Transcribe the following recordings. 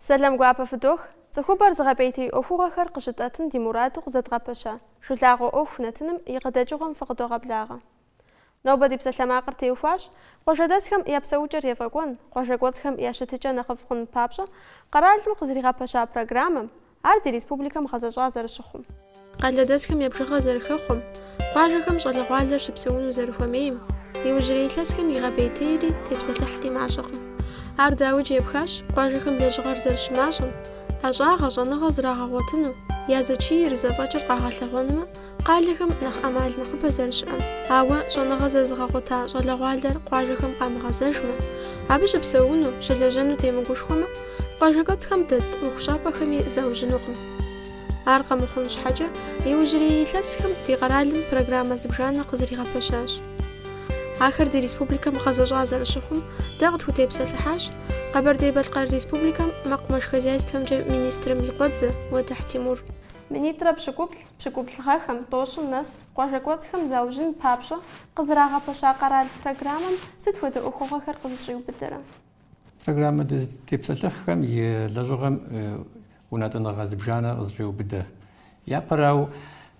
Сэлам гуапэ фыдох. Цӏыхубэр зыгъэпӏейтей ӏуэхугъуэхэр къыщытӏэтын ди мураду къызэдгъэпэща жылагъуэ ӏуэху нэтыным и къыдэкӏыгъуэм фыкъыдогъэблагъэ. Нобэ ди псалъэмакъыр теухуащ къуажэдэсхэм я псэукӏэр ефӏэкӏуэн, къуажэ кӏуэцӏхэм я щытыкӏэ нэхъыфӏ хъун папщӏэ къэралым къызэригъэпэща программэм, ар ди республикэм гъэзэщӏа зэрыщыхъум, къалэдэсхэм я бжыгъэр зэрыхэхъуэм, къуажэхэм щӏалэгъуалэр щыпсэуну зэрыхуэмейм, иужьрей илъэсхэм игъэпӏейтейри тепсэлъыхьри мащӏэкъым. Ар дауикӏ епхащ къуажэхэм лэжьыгъэр зэрыщымащӏэм, ӏэщӏагъэ, щӏэныгъэ зрагъэгъуэтыну, я зэчийр, зэфӏэкӏыр къагъэлъэгъуэнумэ, Къалэхэм нэхъ ӏэмал нэхъыбэ зэрыщыӏэм, ауэ щӏэныгъэ зэзыгъэгъуэта щӏалэгъуалэр къуажэхэм къамыгъэзэжмэ, абы щыпсэуну, щылэжьэну темыгушхуэмэ, къуажэкӏуэцӏхэм дэт ӏуэхущӏапӏэхэми заужьынукъым. Ар къэмыхъун щхьэкӏэ, иужьрей илъэсхэм ди къэралым программэ зыбжанэ къызэригъэпэщащ. Ахэр ди республикэм гъэзэщӏа зэрыщыхъум, дэ къытхутепсэлъыхьащ Къэбэрдей-Балъкъэр Республикэм мэкъумэш хозяйствэмкӏэ министрым и къуэдзэ Уэдыхь Тимур. Минитӏрэ пщыкӏуплӏ Пщыкӏубл гъэхэм, тӏощӏым нэс къуажэкӏуэцӏхэм заужьын папщӏэ къызэрагъэпэща къэрал программэм сыт хуэдэ ӏуэхугъуэхэр къызыщӏиубыдэрэ? Программэ дызытепсэлъыхьхэм и лэжьыгъэм унэтӏыныгъэ зыбжанэ къызыщӏеубыдэ. Япэрауэ,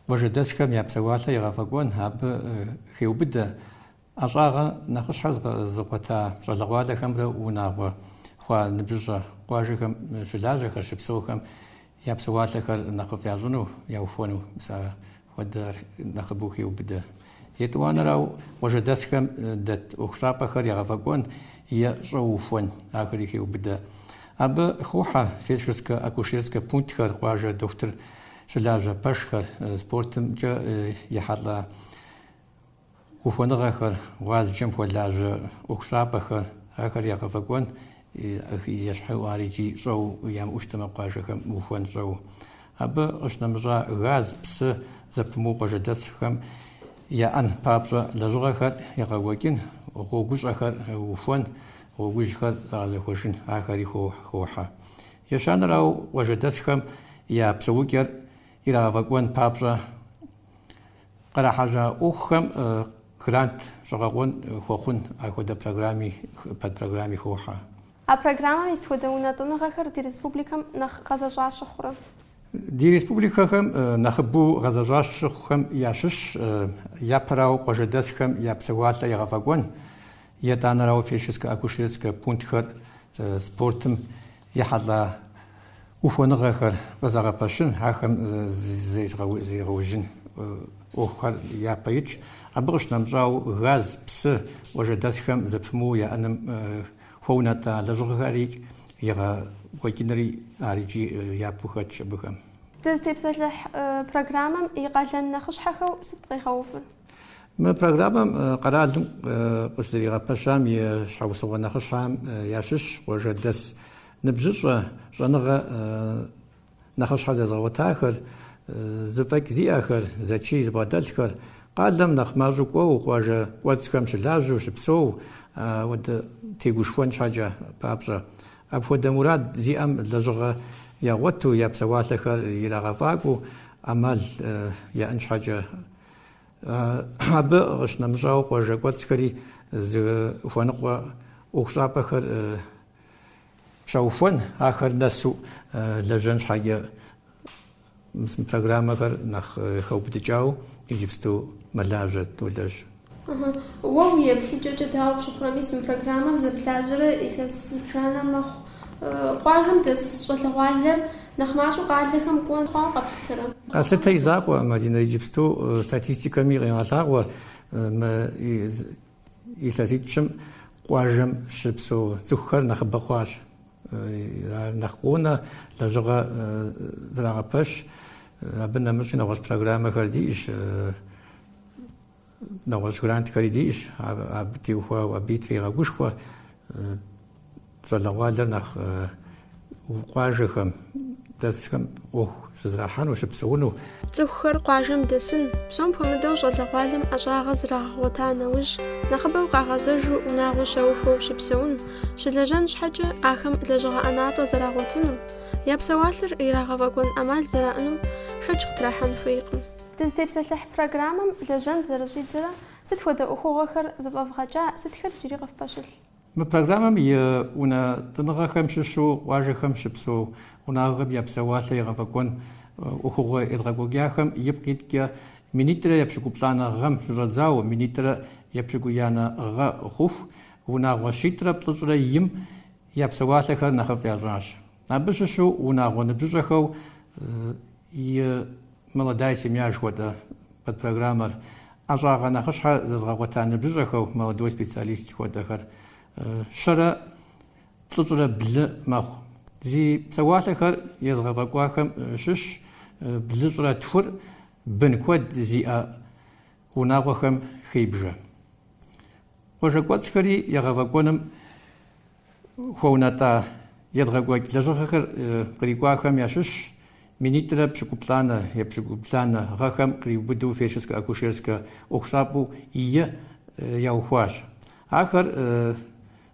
къуажэдэсхэм я псэуалъэ егъэфӏэкӏуэн абы хеубыдэ ӏэщӏагъэ нэхъыщхьэр зыгъуэта щӏалэгъуалэхэмрэ унагъуэ хъуа ныбжьыщӏэ къуажэхэм щылажьэхэр щыпсэухэм я псэуалъэхэр нэхъыфӏ ящӏыну, яухуэну мис а хуэдэр нэхъыбэу хеубыдэ. Етӏуанэрауэ къуажэдэсхэм дэт ӏуэхущӏапӏэхэр ягъэфӏэкӏуэн е щӏэу ухуэн ахэри хеубыдэ. Абы хохьэ фельдшерскэ-акушерскэ пунктхэр, къуажэ дохутыр щылажьэ пэшхэр, спортымкӏэ ехьэлӏа ухуэныгъэхэр, гъуазджэм хуэлажьэ ӏуэхущӏапӏэхэр, ахэр ягъэфӏэкӏуэн ещхьу ар икӏи щӏэу ямыӏэу щытмэ къуажэхэм ухуэн щӏэу. Абы къыщынэмыщӏа газ, псы зэпымыууэ къуажэдэсхэм яӏэн папщӏэ лэжьыгъэхэр ягъэкӏуэкӏын, гъуэгущӏэхэр ухуэн, гъуэгужьхэр загъэзэхуэжын ахэри хохьэ. Ещанэрауэ, къуажэдэсхэм я псэукӏэр ирагъэфӏэкӏуэн папщӏэ, Кърахьэжьа ӏуэхухэм грант щӏэгъэкъуэн хуэхъун а хуэдэ программи, подпрограмми хохьэ. А программэм и сыт хуэдэ унэтӏыныгъэхэр ди республикэм нэхъ гъэзэщӏа щыхъурэ? Ди республикэхэм нэхъыбэу гъэзэщӏа щыхъухэм ящыщщ, япэрауэ къуажэдэсхэм я псэуалъэ егъэфӏэкӏуэн, етӏанэрауэ фельдшерскэ-акушерскэ пунктхэр, спортым Ехьэлӏа ухуэныгъэхэр къызэгъэпэщын, ахэм зегъэужьын ӏуэхухэр япэ итщ. Абы къыщынэмыщӏауэ, газ, псы, къуажэдэсхэм зэпымыууэ яӏэным хуэунэтӏа лэжьыгъэхэр егъэкӏуэкӏынри ар икӏи япэу хэтщ абыхэм. Дызытепсэлъыхь программэм и къалэн нэхъыщхьэхэу сыт къигъэувыр? Мы программэм къэралым къыщызэригъэпэщам и щхьэусыгъуэ нэхъыщхьэхэм ящыщщ къуажэдэс ныбжьыщӏэ щӏэныгъэ нэхъыщхьэ зэзыгъэгъуэтахэр, зэфӏэкӏ зиӏэхэр, зэчий зыбгъэдэлъхэр, къалэм нэхъ мащӏэу кӏуэу, къуажэ кӏуэцӏхэм щылажьэу щыпсэу, апхуэдэу тегушхуэн щхьэкӏэ папщӏэ. Апхуэдэ мурад зиӏэм лэжьыгъэ ягъуэту, я псэуалъэхэр ирагъэфӏакӏуэу ӏэмал яӏэн щхьэкӏэ. Абы къыщынэмыщӏауэ, къуажэ кӏуэцӏхэри зыхуэныкъуэ ӏуэхущӏапӏэхэр щаухуэн, ахэр нэсу лэжьэн щхьэкӏэ мы программэхэр нэхъ хэубыдыкӏауэ иджыпсту мэлажьэ долэжь. Уэ уи еплъыкӏэкӏэ дауэ пщыхъурэ, мис мы программэр зэрылажьэрэ илъэс зыбжанэ мэхъу. Къуажэм дэс щӏалэгъуалэр Нэхъ мащӏэу къалэхэм кӏуэ хъуауэ къэплъытэрэ? Къэслъытэ и закъуэ, Мадинэ, иджыпсту статистикэми къегъэлъагъуэ мы илъэситӏщым къуажэм щыпсэу цӏыхухэр нэхъыбэ хъуащ. Ар нэхъ къонэ, лэжьыгъэ зрагъэпэщ. Абы нэмыщӏи нэгъуэщӏ программэхэр диӏэщ. Нэгъуэщӏ грантхэри диӏэщ, абы теухуауэ, абы трегъэгушхуэ щӏалэгъуалэр нэхъ къуажэхэм дэсхэм ӏуэху щызэрахьэну, щыпсэуну. Цӏыхухэр къуажэм дэсын, псом хуэмыдэу щӏалэгъуалэм ӏэщӏагъэ зрагъэгъуэта нэужь, нэхъыбэу къагъэзэжу унагъуэ щаухуэу щыпсэун, щылэжьэн щхьэкӏэ ахэм лэжьыгъэ ӏэнатӏэ зэрагъуэтыну, я псэуалъэр ирагъэфӏэкӏуэн ӏэмал зэраӏэну шэч къытрахьэн хуейкъым. Дызытепсэлъыхь программэм лэжьэн зэрыщӏидзэрэ, сыт хуэдэ ӏуэхугъуэхэр зэфӏэвгъэкӏа, сытхэр иджыри къыфпэщылъ? Мы программэм и унэтӏыныгъэхэм щыщу къуажэхэм щыпсэу унагъуэхэм я псэуалъэ егъэфӏэкӏуэн ӏуэхугъуэ едгъэкӏуэкӏахэм ипкъ иткӏэ минитӏрэ епщыкӏуплӏанэ гъэм щыщӏэдзауэ, минитӏрэ епщыкӏуиянэ гъэ хъуху, унагъуэ щитӏрэ плӏыщӏрэ йим я псэуалъэхэр нэхъыфӏ ящӏащ. Абы щыщу унагъуэ ныбжьыщӏэхэу и Молодая семья жыхуэтӏэ подпрограммэр, ӏэщӏагъэ нэхъыщхьэ зэзыгъэгъуэта ныбжьыщӏэхэу Молодой специалист жыхуэтӏэхэр щэрэ плӏыщӏрэ блы мэхъу. Зи псэуалъэхэр езыгъэфӏэкӏуахэм щыщщ блыщӏрэ тхур бын куэд зиӏэ унагъуэхэм хебжэ. Къуажэ кӏуэцӏхэри егъэфӏэкӏуэным хуэунэтӏа едгъэкӏуэкӏ лэжьыгъэхэр кърикӏуахэм ящыщщ минитӏрэ пщыкӏуплӏанэ епщыкӏубланэ гъэхэм къриубыдэу фельдшерскэ-акушерскэ ӏуэхущӏапӏэу и яухуащ. Ахэр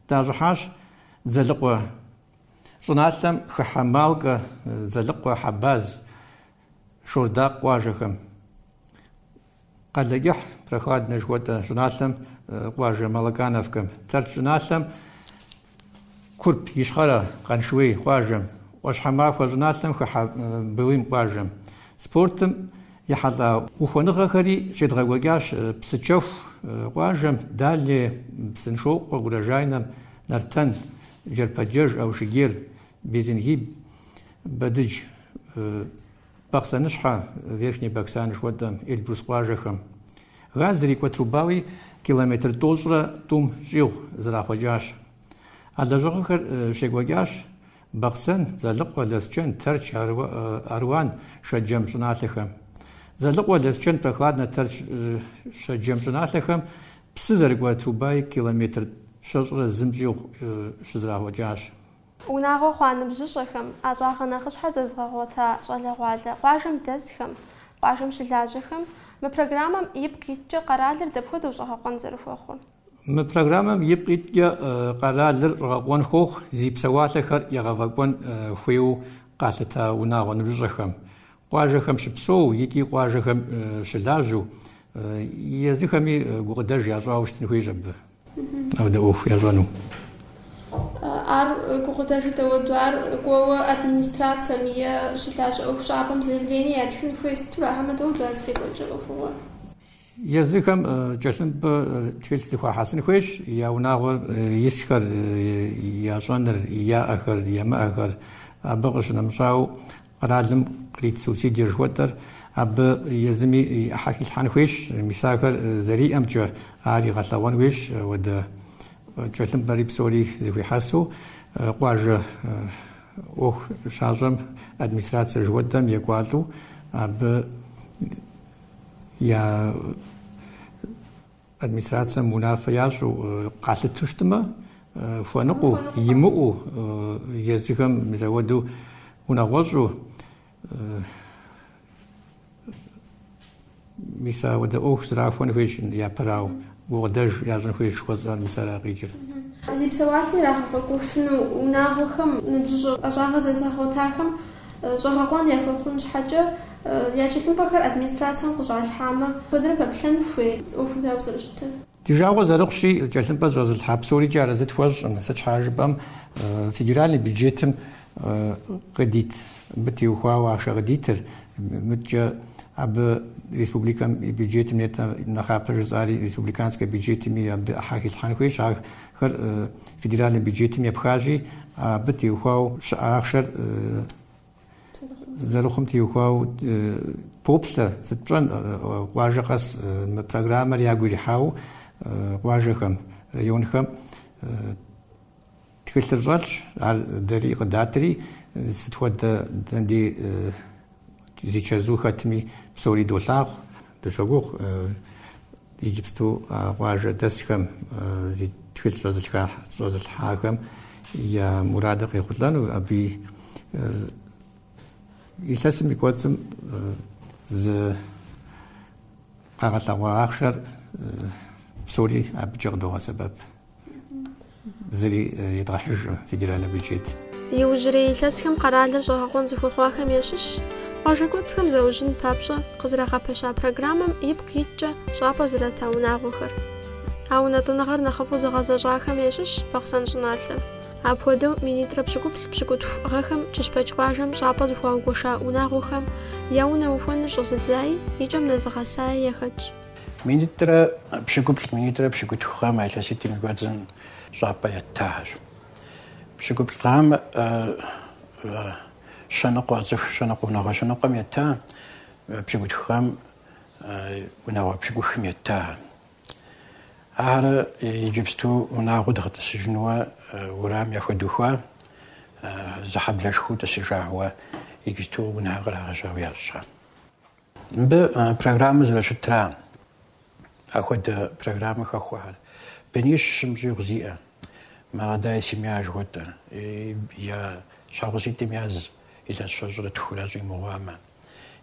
дащӏыхьащ Дзэлыкъуэ щӏыналъэм хыхьэ Малкэ, Дзэлыкъуэ, Хьэбаз, Шордакъ къуажэхэм. Къалэкӏыхь, Прохладнэ жыхуэтӏэ щӏыналъэм, къуажэ Малакановкэм. Тэрч щӏыналъэм Курп Ищхъэрэ Къаншыуей къуажэм, ӏуащхьэмахуэ щӏыналъэм хыхьэ Былым къуажэм. Спортым ехьэлӏа ухуэныгъэхэри щедгъэкӏуэкӏащ Псыкӏэху къуажэм, Дальнэ, Псыншокъуэ, Урожайнэм, Нартэн, Джэрпэджэж, Аушыгер, Безенги, Бэдыдж. Бахъсэныщхьэ, Верхний Баксан жыхуэтӏэм, Эльбрус къуажэхэм. Газ зрикӏуэ трубауи километр тӏощӏрэ тӏум щӏигъу зэрахъуэкӏащ. А лэжьыгъэхэр щекӏуэкӏащ Бахъсэн, Дзэлыкъуэ, Лэсчэн, Тэрч, Аруан, Шэджэм щӏыналъэхэм. Дзэлыкъуэ, Лэсчэн, Прохладнэ, Тэрч, Шэджэм щӏыналъэхэм псы зэрыкӏуэ трубауи километр щэщӏрэ зым щӏигъу щызэрахъуэкӏащ. Унагъуэ хъуа ныбжьыщӏэхэм, ӏэщӏагъэ нэхъыщхьэ зэзыгъэгъуэта щӏалэгъуалэ къуажэм дэсхэм, къуажэм щылажьэхэм мы программэм ипкъ иткӏэ къэралыр дапхуэдэу щӏэгъэкъуэн зэрыхуэхъур? Мы программэм ипкъ иткӏэ къэралыр щӏэгъэкъуэн хуохъу зи псэуалъэхэр егъэфӏэкӏуэн хуейуэ къалъыта унагъуэ ныбжьыщӏэхэм, къуажэхэм щыпсэу икӏи къуажэхэм щылажьэу, езыхэми гукъыдэж ящӏауэ щытын хуейщ абы. Ауэдэ ӏуэху ящӏэну. Ар гукъыдэжу дэуэду ар кӏуэуэ администрацэм е щылажьэ ӏуэхущӏапӏэм заявление ятхын хуей сыту ара хьэмэ дэуэду зэрекӏуэкӏыр ӏуэхугъуэ. Езыхэм кӏэлъымпӏэ тхылъ зыхуахьэсын хуейщ я унагъуэр исхэр, ящӏэныр, яӏэхэр, емыӏэхэр. Абы къыщынэмыщӏауэ, Къэралым кърит субсидие жыхуэтӏэр абы езыми и ӏыхьэ хилъхьэн хуейщ, мис ахэр зэриӏэмкӏэ ар игъэлъэгъуэн хуейщ, ауэдэ кӏэлъымпӏэри псори зыхуихьэсу къуажэ ӏуэху щащӏэм администрацие жыхуэтӏэм екӏуалӏэу абы я Администрацием унафэ ящӏу къалъыту щытмэ, хуэныкъуэу, имыӏэу, езыхэм мис ауэду унагъуэщӏу, мис апхуэдэ ӏуэху зрахуэн хуейщ япэрауэ, гукъыдэж ящӏын хуейщ жыхуэсӏэр мис ара къикӏыр. Зи псэуалъи ирагъэфӏэкӏуэфыну унагъуэхэм, ныбжьыщӏэ ӏэщӏагъэ зэзыгъэгъуэтахэм. Щӏэгъэкъуэн яхуэхъун щхьэкӏэ, я тхылъымпӏэхэр администрацием къыщӏалъхьамэ, куэдрэ пэплъэн хуей? ӏуэхур дауэ зэрыщытыр? Ди жагъуэ зэрыхъущи, тхылъымпӏэ зыщӏэзылъхьа псорикӏэ арэзы тхуэщӏкъым, сыт щхьа жыпӏэм, федеральный бюджетым къыдит, абы теухуауэ ахъшэ къыдитыр, мыдкӏэ абы республикэм и бюджетым нетӏэ нэхъапэ жысӏари, республиканскэ бюджетми абы ӏыхьэ хилъхьэн хуейщ, ар хэр федеральный бюджетым епхащи, абы теухуауэ щыӏэ ахъшэр зэрыхъум теухуау поплъэ сыт пщӏэн къуажэ къэс мы программэр ягу ирихьауэ къуажэхэм, районхэм тхылъыр щӏэлъщ, ар дэри къыдатри, сыт хуэдэ ди зи чэзу хэтми псори долъагъу, дыщогугъ Иджыпсту а къуажэдэсхэм зи тхылъ щӏэзылъхьахэм я мурадыр къехъулӏэну, абы илъэсым и кӏуэцӏым зы къагъэлъэгъуа ахъшэр псори абыкӏэ къыдогъэсэбэп. Зыри едгъэхьыжкъым федеральнэ бюджет. Иужьрей илъэсхэм къэралыр щӏэгъэкъуэн зыхуэхъуахэм ящыщщ къуажэ кӏуэцӏхэм заужьын папщӏэ къызэрагъэпэща программэм ипкъ иткӏэ щӏапӏэ зрата унагъуэхэр. А унэтӏыныгъэр нэхъыфӏу зыгъэзэщӏахэм ящыщщ Бахъсэн щӏыналъэр. Апхуэдэу минитӏрэ пщыкӏуплӏ пщыкӏутху гъэхэм Кыщпэк къуажэм щӏапӏэ зыхуагуэша унагъуэхэм я унэ ухуэныр щӏэзыдзаи и кӏэм нэзыгъэсаи яхэтщ. Минитӏрэ пщыкӏуплӏ минитӏрэ пщыкӏутху гъэм а илъэситӏым и кӏуэцӏым щӏапӏэ еттахэщ. Пщыкӏуплӏ гъэмэ щэныкъуэ цӏыху щэныкъуэ унагъуэ щэныкъуэм етта, пщыкӏутху гъэм унагъуэ пщыкӏухым еттахэ. Ахэр иджыпсту унагъуэ дгъэтӏысыжынуэ урам яхуэдухуа, зы хьэблэшхуэу тӏысыжауэ иджыпсту унэхэр кърагъэжьауэ ящӏэ. Мыбы программэ зэрыщытра? Ахуэдэ программэ хэхуэхэр. Бынищ щым щӏигъу зиӏэ. Молодая семья жыхуэтӏэр. Я щхьэгъуситӏым яз илъэс щэщӏрэ тхурэ щӏимыгъуамэ.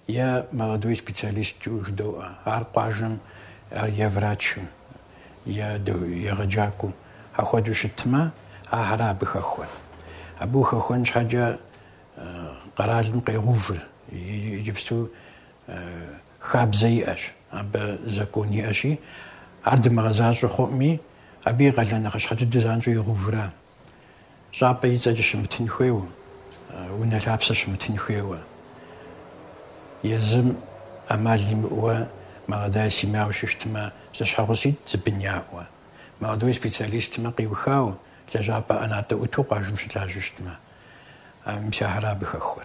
Е молодой специалисту жыдоӏэ. Ар къуажэм е врачым, е егъэджакӏуэу. Ахуэдэу щытмэ, ахэр абы хэхуэ. Абы ухэхуэн щхьэкӏэ Къэралым къегъэувыр иджыпсту хабзэ иӏэщ, абы закон иӏэщи, ар дымыгъэзащӏэ хъуӏми, абы и къалэн нэхъыщхьэ дыдэу занщӏэу егъэувра? Щӏапӏэ и цӏэкӏэ щымытын хуейуэ, унэ лъапсэ щымытын хуейуэ, езым ӏэмал имыӏэуэ молодая семьяуэ щыщтмэ, зэщхьэгъуситӏ зы бын яӏэуэ, молодой специалистмэ къиухауэ, лэжьапӏэ ӏэнатӏэ ӏуту къуажэм щылажьэу щытмэ. Мис ахэр абы хэхуэ.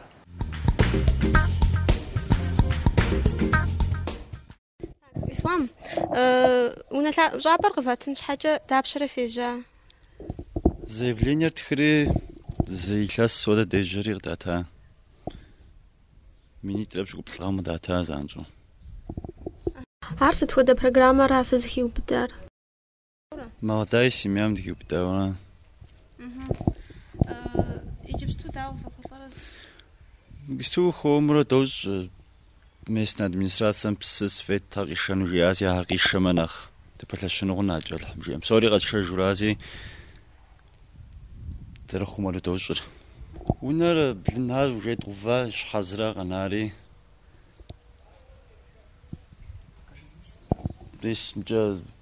Ислам, унэ щӏапӏэр къывэтын щхьэкӏэ дапщэрэ фежьа? Заявлениер тхыри зы илъэс хуэдэ дежьэри къыдата. Минитӏрэ пщыкӏуплӏ гъэм къыдата занщӏэу. Ар сыт хуэдэ программэра фызыхиубыдар? Молодая семьям дыхиубыдауэ. Иджыпсту дауэ фэхъулӏэрэ? Иджыпсту хуэмурэ дощӏ местнэ администрацэм псы светхэр къишэну жиӏази ахэр къишэмэ нэхъ дыпэлъэщыну къэнамкӏэ Алыхьым жиӏэм. Псори къэтшэжурази зэрыхъумэру дощӏыр. Унэр блынхэр уже дгъэува щхьэ зыра къэнари. Десмкӏэ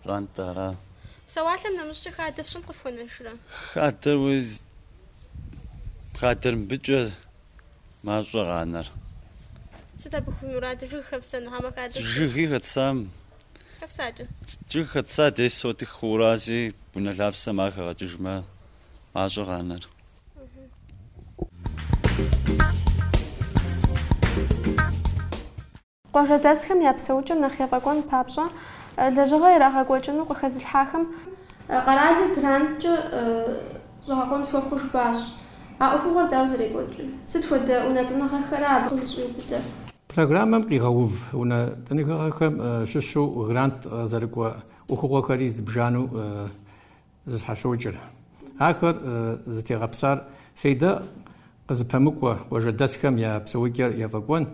Пщӏантӏэ ара? Псэуалъэм нэмыщӏкӏэ хадэ фщӏын къыфхуэнэжрэ? Хадэр уи хадэр мыбыкӏэ мащӏэ къанэр. Сыт абы уи мураду жыг хэпсэну, хьэмэ хадэр фщӏын? Жыги хэтсам. Хэпсакӏэ. Жыг хэтса десять сотых хъурази унэ лъапсэм ар хэгъэкӏыжмэ мащӏэ къанэр. Къуажэдэсхэм я псэукӏэм нэхъ ефӏэкӏуэн папщӏэ лэжьыгъэ ирагъэкӏуэкӏыну къыхэзылъхьахэм, къэралыр гранткӏэ щӏэгъэкъуэн хуэхъуу жыпӏащ. А ӏуэхугъуэр дауэ зэрекӏуэкӏыр? Сыт хуэдэ унэтӏыныгъэхэра абы къызыщӏиубыдэр? Программэм къигъэув унэтӏыныгъэхэм щыщу грант зэрыкӏуэ ӏуэхугъуэхэри зыбжанэу зыщхьэщокӏыр. Ахэр зытегъэпсар фейдэ къызыпэмыкӏуэ къуажэдэсхэм я псэукӏэр ефӏэкӏуэн,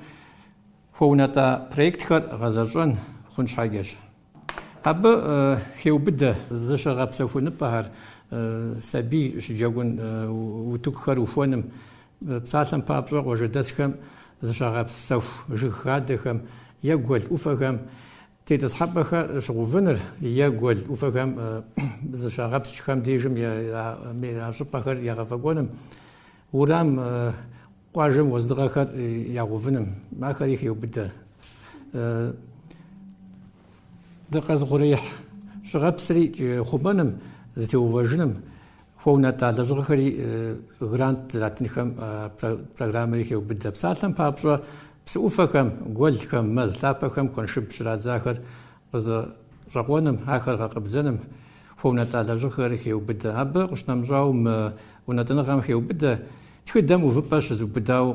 хуэунэтӏа проектхэр гъэзэщӏэн хъун щхьэкӏэщ. Абы хеубыдэ зыщыгъэпсэхуныпӏэхэр, сабий щыджэгун утыкухэр ухуэным, псалъэм папщӏэ къуажэдэсхэм зыщагъэпсэху жыг хадэхэм е гуэл ӏуфэхэм Тетӏысхьэпӏэхэр щыгъэувыныр е гуэл ӏуфэхэм зыщагъэпскӏхэм дежым а щӏыпӏэхэр егъэфӏэкӏуэным, уэрам къуажэм уэздыгъэхэр ягъэувыным ахэри хеубыдэ. Дыкъэзыухъуреихь щӏыуэпсрикӏ хъумэным, зэтеувэжыным, Хуэунэтӏа лэжьыгъэхэри, грант зэратынхэм программэри хеубыдэ. Псалъэм папщӏэ, псы ӏуфэхэм, гуэлхэм, мэз лъапэхэм куэншыб щырадзахэр къызэщӏэкъуэным, ахэр гъэкъэбзэным хуэунэтӏа лэжьыгъэхэри хеубыдэ. Абы къыщынэмыщӏауэ, мы унэтӏыныгъэм хеубыдэ тхыдэм увыпӏэ щызыубыдауэ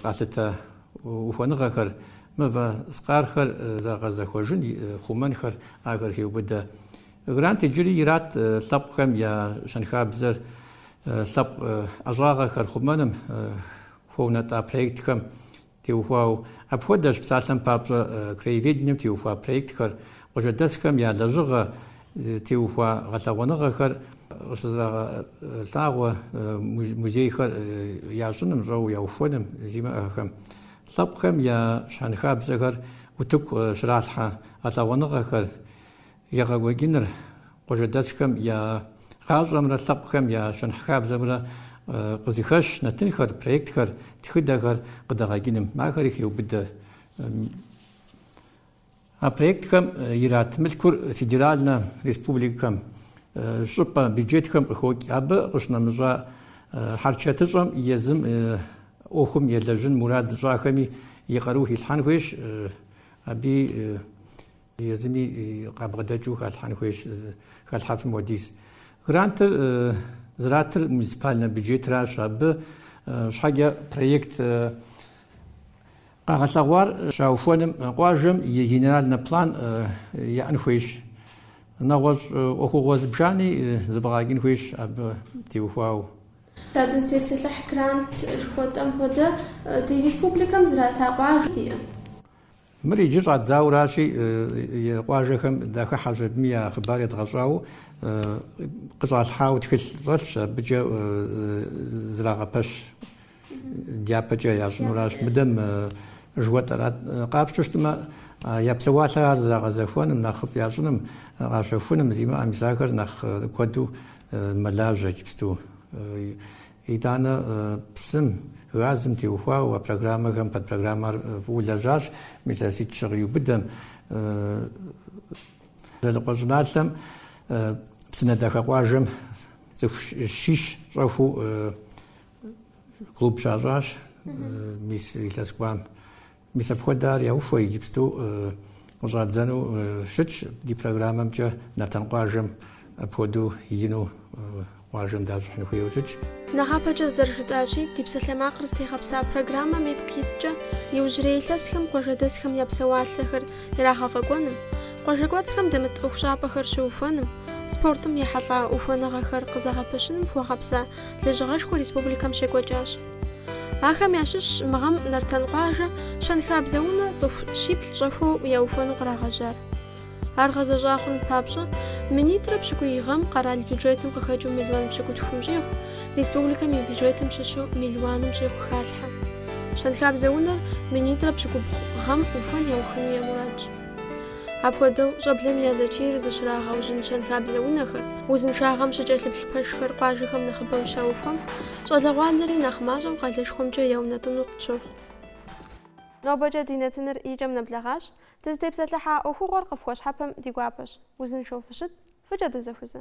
къалъытэ ухуэныгъэхэр, мывэ скъархэр зэгъэзэхуэжын, хъумэнхэр, ахэр хеубыдэ. Грант иджыри ират лъэпкъхэм я щэнхабзэр лъэпкъ ӏэщӏагъэхэр хъумэным хуэунэтӏа проектхэм теухуауэ. Апхуэдэщ псалъэм папщӏэ краеведением теухуа проектхэр, къуажэдэсхэм я лэжьыгъэ теухуа гъэлъэгъуэныгъэхэр къыщызэрагъэлъагъуэ музейхэр ящӏыным, щӏэуэ яухуэным зимыӏэхэм. Лъэпкъхэм я щэнхабзэхэр утыку щралъхьэ гъэлъэгъуэныгъэхэр, Егъэкӏуэкӏыныр къуажэдэсхэм я гъащӏэмрэ лъэпкъхэм я щэнхабзэмрэ къызыхэщ нэтынхэр, проектхэр, тхыдэхэр къыдэгъэкӏыным. Ахэри хеубыдэ. А проектхэм ират мылъкур федеральнэ республикэм, щӏыпӏэ бюджетхэм къыхокӏ. Абы къыщынэмыщӏа хьэрчэтыщӏэм езым ӏуэхум елэжьын мурад зыщӏахэми и къару хилъхьэн хуейщ, аби Езыми къабгъэдэкӏыу халъхьэн хуейщ, халъхьэфым хуэдиз. Грантыр зэратыр муниципальнэ бюджетращ, абы щхьэкӏэ проект къагъэлъэгъуар щаухуэным къуажэм и генеральнэ план яӏэн хуейщ. Нэгъуэщӏ ӏуэхугъуэ зыбжани зэфӏэгъэкӏын хуейщ абы теухуауэ. Сэ дызытепсэлъыхь грант жыхуэтӏэм хуэдэ ди республикэм зрата къуажэ диӏэ? Мыр иджы щӏадзауращи, къуажэхэм дахыхьэщ, абыми я хъыбар едгъэщӏауэ къыщӏалъхьауэ тхылъ щӏэлъщ, абыкӏэ зрагъэпэщ дяпэкӏэ ящӏынуращ. Мыдэм жыхуэтӏэрат, къапщтэу щытмэ, я псэуалъэр ар зрагъэзэхуэным, нэхъыфӏ ящӏыным, къащэхуным, зимыӏэм, мис ахэр нэхъ куэду мэлажьэ иджыпсту. Итӏанэ псым, газым теухуауэ а программэхэм, подпрограммэр фӏыуэ лэжьащ мы илъэситӏ-щы къиубыдэм. Дзэлыкъуэ щӏыналъэм Псынэдахэ къуажэм цӏыху щищ щӏэхуу клуб щащӏащ мис илъэс кӏуам. Мис апхуэдэ ар яухуэ, иджыпсту къыщӏадзэну щытщ ди программэмкӏэ Нартан къуажэм апхуэдэу ину къуажэм дащӏыхьын хуейуэ щытщ. Нэхъапэкӏэ зэрыжытӏащи, ди псалъэмакъыр зытегъэпса программэм ипкъ иткӏэ иужьрей илъэсхэм къуажэдэсхэм я псэуалъэхэр ирагъэфӏэкӏуэным, къуажэкӏуэцӏхэм дэмыт ӏуэхущӏапӏэхэр щыухуэным, спортым ехьэлӏа ухуэныгъэхэр къызэгъэпэщыным хуэгъэпса лэжьыгъэшхуэ республикэм щекӏуэкӏащ. Ахэм ящыщщ мы гъэм Нартан къуажэ щэнхабзэ унэ цӏыху щиплӏ щӏэхуэу яухуэну кърагъэжьар. Ар гъэзэщӏа хъун папщӏэ, минитӏрэ пщыкӏуий гъэм къэрал бюджетым къыхэкӏыу миллион пщыкӏутхум щӏигъу, республикэм и бюджетым щыщу миллионым щӏигъу халъхьэ. Щэнхабзэ унэр минитӏрэ пщыкӏубгъу гъэм ухуэн яухыну я мурадщ. Апхуэдэу, щӏэблэм я зэчийр зыщрагъэужьын щэнхабзэ унэхэр, узыншагъэм щыкӏэлъыплъ пэшхэр къуажэхэм нэхъыбэу щаухуэм, щӏалэгъуалэри нэхъ мащӏэу къалэшхуэмкӏэ яунэтӏыну къытщохъу. Нобэкӏэ ди нэтыныр и кӏэм нэблэгъащ. Дызытепсэлъыхьа ӏуэхугъуэр къыфхуэщхьэпэм ди гуапэщ. Узыншэу фыщыт, фӏыкӏэ дызэхузэ!